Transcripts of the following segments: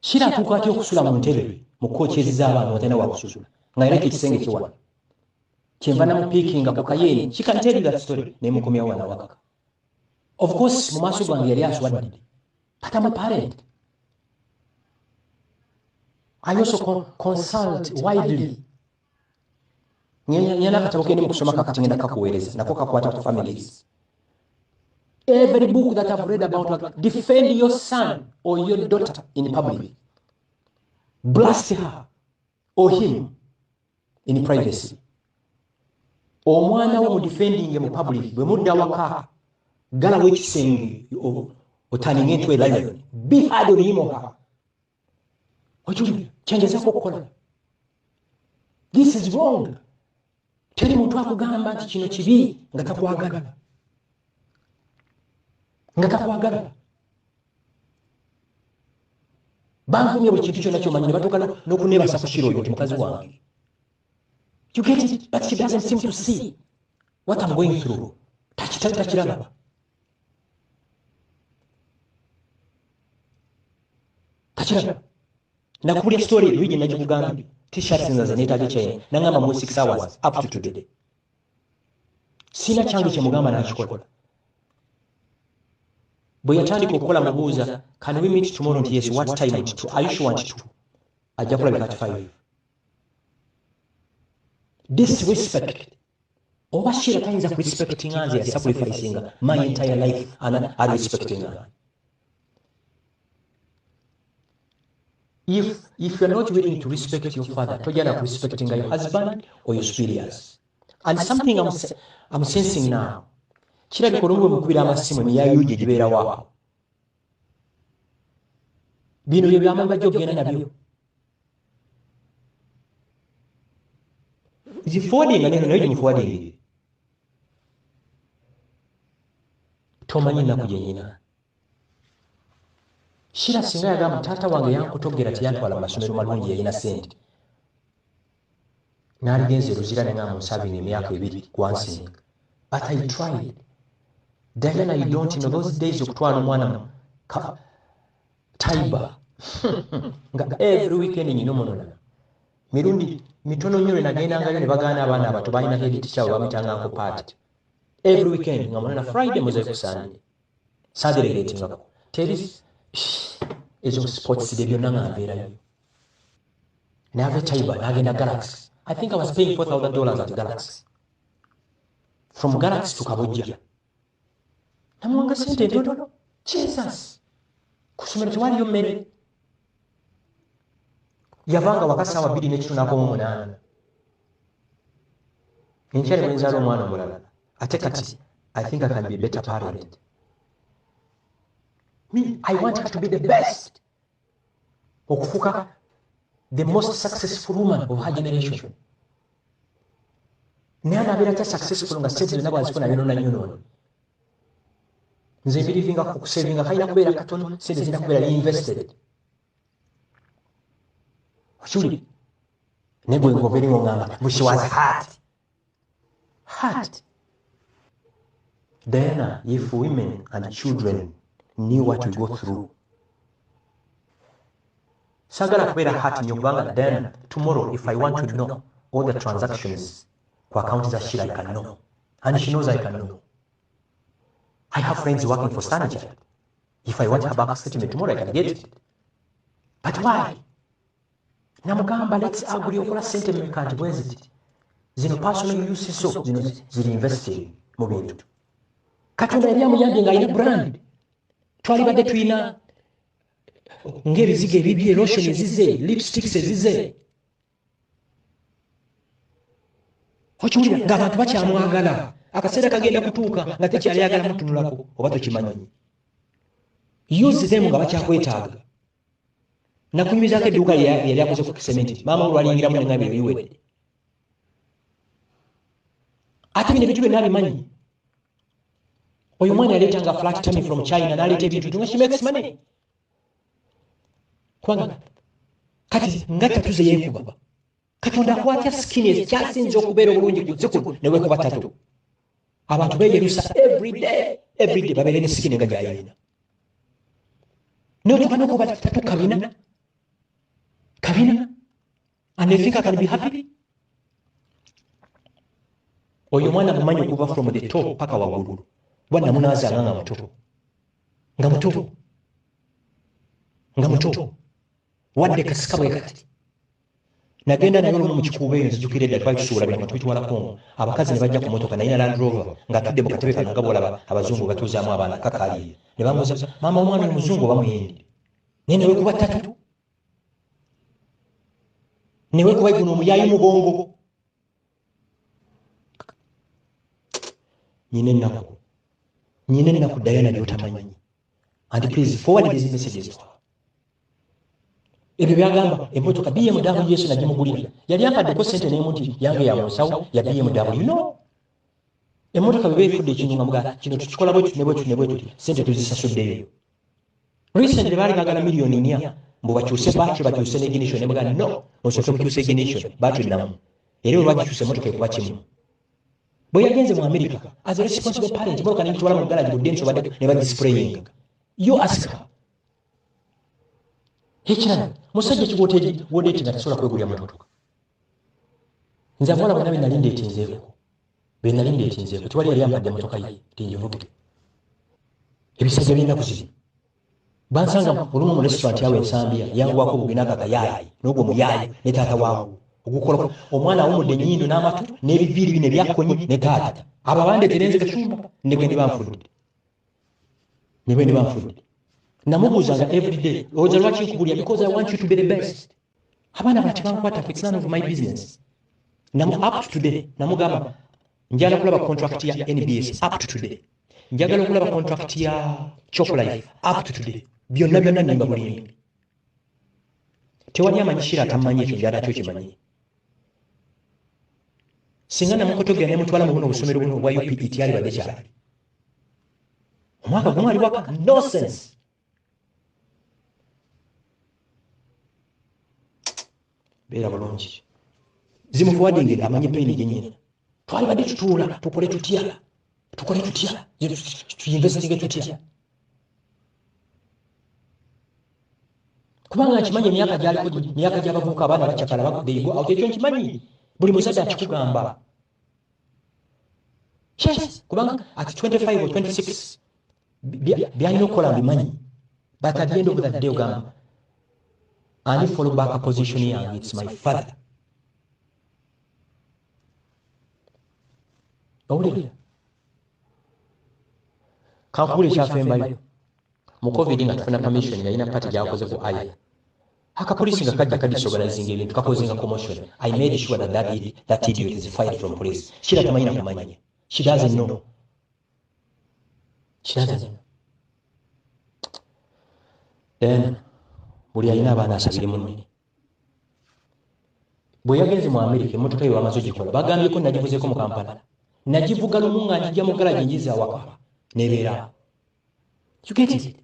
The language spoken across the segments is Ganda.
Shira atuuka atya okusula mu ntebe mu kookyezi z'abaana watalina wakusula nga yaleka ekisenge kiwala kyenva namupiikinga ku kayeeni kikanteerira story naye mukomyawo wana waka of course mu maaso gange yali aswadde but am a parent I also con consult widely nyana akatabo kendi mukusoma kakati ngenda kakuweereza nako kakwata ku families every book that i've read about like, defend your son or your daughter in public blast her or him in privacy omwana wo mudefendinge mu public bwe mudda waka galawo ekisenge otaninga entwe lion be hard on him or her okiwulira kyengezaku okukola this is wrong teri muntu akugamba nti kino kibi nga takwagala nga takwagala bankumye buli kintu kyona kyomanyi nebatuuka nokunebasa kushira oyo nti mukazi wange you get it but she doesn't seem to see what am going through takitali takiraba kakiraba nakubulya story eyo gye nagikugambye t-shirts nza ze neetaaga ekyeye nangamba mu six hours up to today sirina kyange kyemugamba nakikola bwe yatandika okukola mubuuza can we meet tomorrow nti yes what time nti two are you sure nti two ajja kulabika at five disrespect oba shira tayinza kurespectinga nze yasacrificinga my entire life ana arespectinga if if you're not willing to respect your father tojana kurespectinga your husband or your superiors and something i'm, I'm sensing now kirabika olumwe mukubira amasimu neya yuji egibeerawo awo bino bye byamanyi bajja okugenda nabyo zifuwadinga neno nayo gimufuwadingire tomanyi ennaku gyenyina shira singa yagamba taata wange yankutogera teyantwala mu masomero malungi yalina sente naligenze luzira nenga mu serving emyaka ebiri kwansing but i tried diana you don't know those days okutwala omwana mu taiba nga every weekend nyina omunonana mirundi mitono nyo lwe nagendangayo ne bagaana abaana abato balina hedit kyabo bamitanga nko party every weekend nga munana friday muze ku sunday sadelegatingako teri ezo sports de byonna nga mbeerayo n'ava chaiba n'agenda galax i think i was paying 4000 dollars at galax from galax to kabojja namuwanga sente ntono jesus ku ssomero tewaliyo mmere yavanga waka saawa bbiri n'ekitu n'akoma omunaana enkyali bwenzaala omwana omulala ate kati i think i can be better parent me i want her to be the best okufuka the most successful woman of her generation naye anabeera kya successful nga sente zonna bwazifuna yonona yonoona nze birivinga kukusevinga kalina kubeera katono sente zirina kubeera invested okiwulire naye gwe ngobeere ngongamba bushiwazi hati heart diana if women and children knew what we go through sagala kubeera heart nyo kubanga diana tomorrow if i want to know all the transactions ku account za shira i can know and she knows i can know i have friends working for stanija if i want her back statement tomorrow i can get it but why namugamba let's agree okola sente meka nti bweziti zino personal use zo zino ziri invested mu bintu katonda yali amuyambye nga alina brand twalibadde tulina ng'ebizigo ebibye lotion ezize lipsticks ezize okiwulira ng'abantu bakyamwagala akaseera kagenda kutuuka nga tekyali agala mutunulako oba tokimanyi use them nga bakyakwetaaga nakunyumizaako edduuka yali akoze ku kisementi maama olwaliyingiramu nengamba ebiwedde ate bino ebintu byonna bimanyi oyo omwana yaleeta nga flat tami from china naleeta ebintu tunga she makes money kubanga kati nga tatuze yekuba katonda akwatya sikini ekikyasinza okubeera obulungi ku zikulu newekuba tatu abantu beyerusa everyday everyday babeere ne sikini nga gyayalina notubana okuba tatu kabina kabina and they think i can be happy oyo omwana mumanyi okuva from the top paka waggulu kuba namunaazanga nga muto nga muto nga muto wadde kasika bwe kati nagenda naye olumu mukikuuba eyo nzijukira edda twali tusuula bintu tubitwala kongo abakazi ne bajja ku motoka naye na land rover ng'atudde mu katebe kano nga bwolaba abazungu batuuzaamu abaana kakaliye ne bamuuza maama omwana oyo muzungu oba muyindi naye newe kuba ttatu newe kuba guno omuyayi mugongo nyina ennaku nyina ennaku dayana lyotamanyi and please forward these messages to her ebyo byagamba emotoka bmw yesu nagimugulira yali ampaddeko sente nemu nti yange yamunsawo ya bmw no emotoka bweba efudde ekintu nga muga kino tukikola bwetu nebwetu nebwetuti sente tuzisasuddeyo recently baali bagala miliyoni nya mbu bakyuse batry bakyuse neginition nemuga no osooke mukyuse iginition batry namu era olwagikyuse emotoka ekuba kimu bwe yagenze mu america as a responsible parent motoka nengitwala mu galagi budde nsobadde nebagisprayinga yo asika ekirala musajja kiwoteri wodeti nga tasobola kwegulira mututuka nze abawala bona benali ndetinzeeko benali ndetinzeeko tewali yali ampadde motoka ye tinjivuge ebisajja byenaku ziri bansanga olumu mu restaurant yawe ensambia yanguwako obugena nga gayaayi nogwo muyaayi ne taata waawo ogukola omwana awumudde enyindo n'amatu n'ebiviiri bino ebyakonye ne taata abo abandeterenze kacumba negwe ne banfudde ne bwe ndiba nfudde namubuuzanga everyday owoza lwaki nkubulira because i want you to be the best abaana bati bankwatako it's none of my business namu up to today namugamba njala kulaba contract ya nbs up to today njagala okulaba contract ya choplife up to today byonna byonna nimba bulimbi tewali amanyi kira atamanyi ekyo njala kyo kimanyi singa namukotogera nemutwala mu buno obusomero buno obwa upet yalibadde kyali omwaka gumu ali waka nosense beera bulungi zimufuwadingire amanye peni gyenyina twalibadde tutuula tukole tutya tukole tutya tuyinvestinge tutya kubanga nkimanyi emyaka gyaliko myaka gyabavubuka abaana bacakala bakudeyigo awo kyekyo nkimanyi buli muzadde akikugamba Yes, kubanga at 25 or 26 byalina okukola mbimanyi but at the end of the day ogamba ani follow back position yange its my father owulira kankubula ekyafembayo mu covid nga tufuna permission yalina pati gyakoze ku aya Akapolisi nga kajja ka disorganizing ebintu kakozinga commotion. I made sure that that, idiot, that idiot is fired from police. Shira tamanyi na kumanya. She doesn't know. She doesn't know. Then, buli alina abaana asabire munne. Bwe yagenze mu Amerika emmotoka ye wamaze ogikola bagambyeko nagivuzeeko mu Kampala. Nagivuga lumu nga njija mu galaji njiza awaka n'ebeera. You get it?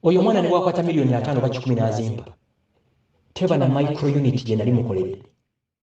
Oyo omwana ne bwakwata miliyoni ataano oba kikumi n'azimba teba na micro unit gye nali mukoledde.